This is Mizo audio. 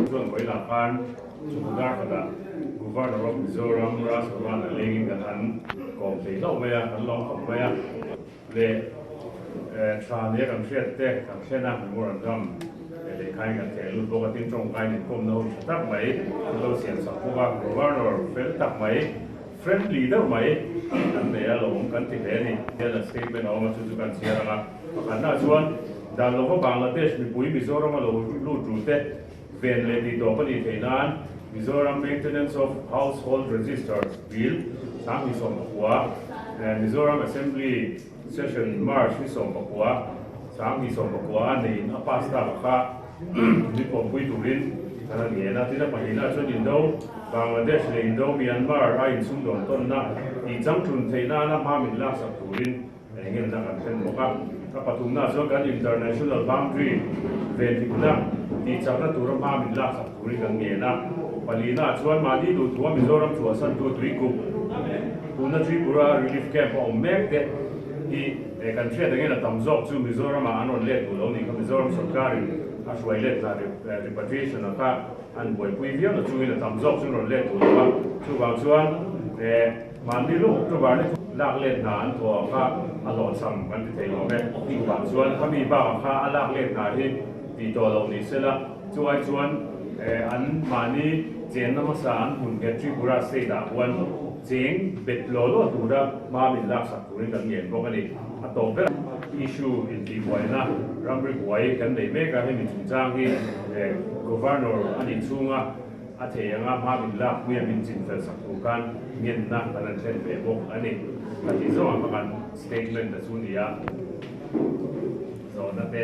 Chuan Voila khan Chukudar khat ah Governor of Mizoram Ras Ruan a leng in kan han kawm thei hlauh mai a, kan lawm khawp mai a, leh tha nia kan hriat te, kan thlen a memorandum leh lehkha in kan theh lut bawk a, tin tawngkai in inkawmna ho tha tak mai, kan lo siam sak bawk a, Governor fel tak mai. Friendly deuh mai an nei a lawm kan ti hle a ni hian an statement a awm a, chu chu kan chhiar ang a. Pakhatnaah chuan Danlova Bangladesh mipui Mizoram a lo lut ru te ven leh tihtawp a nih theih nan Mizoram Maintenance of Household Registers Bill, Sanghnisawm a hua, Mizoram Assembly, Session March ni sawmpakua, Sangni sawmpakua a neiin a pass thlak kha ni pawmpui turin kan han ngen a. Tin a pahnihnah chuan Indo, Bangladesh leh Indo, Myanmar a insumdawn tawnna tih chang ṭun theih nana hma min laksak turin engemna kan hlen bawk a. A pathumnah chuan kan International Boundary venthipna tih chakna tura hma min laksak. Tui kan ngen a, Palina-ah chuan mahni duhthuma Mizoram chhuahsantu tui kum Puna Tripura Relief Camp a awm mek te hi kan hriat angin a tam zawk chu Mizoramah an rawn let duh lo ni kha Mizoram sawrkarin a hruai let hna repatriation a kha an buaipui viau na chungin a tam zawk chu an rawn let duh lo a, chuvang chuan mahni lawk October ni thawk lak let hna an thaw ang kha a lawnsam kan ti thei lawm e, chuvang chuan khami bak ang kha a lak let hna hi ti tawh lo ni sela. Chuvai chuan an mahni cheng na hmasa an hun hian Tripura state ah huan cheng bet law law tura hma min laksak turin kan ngen bawk a ni. A tawp ber ang issue intihbuaina ramri buai kan nei mek a, hemi chungchang hi Governor a ni chunga a thei anga hma min lak hmia min chin fel sak tur khan ngenna kan han thlen ve bawk a ni. Ka tih zawk ang ka kan statement a chu ni a, zawhna te.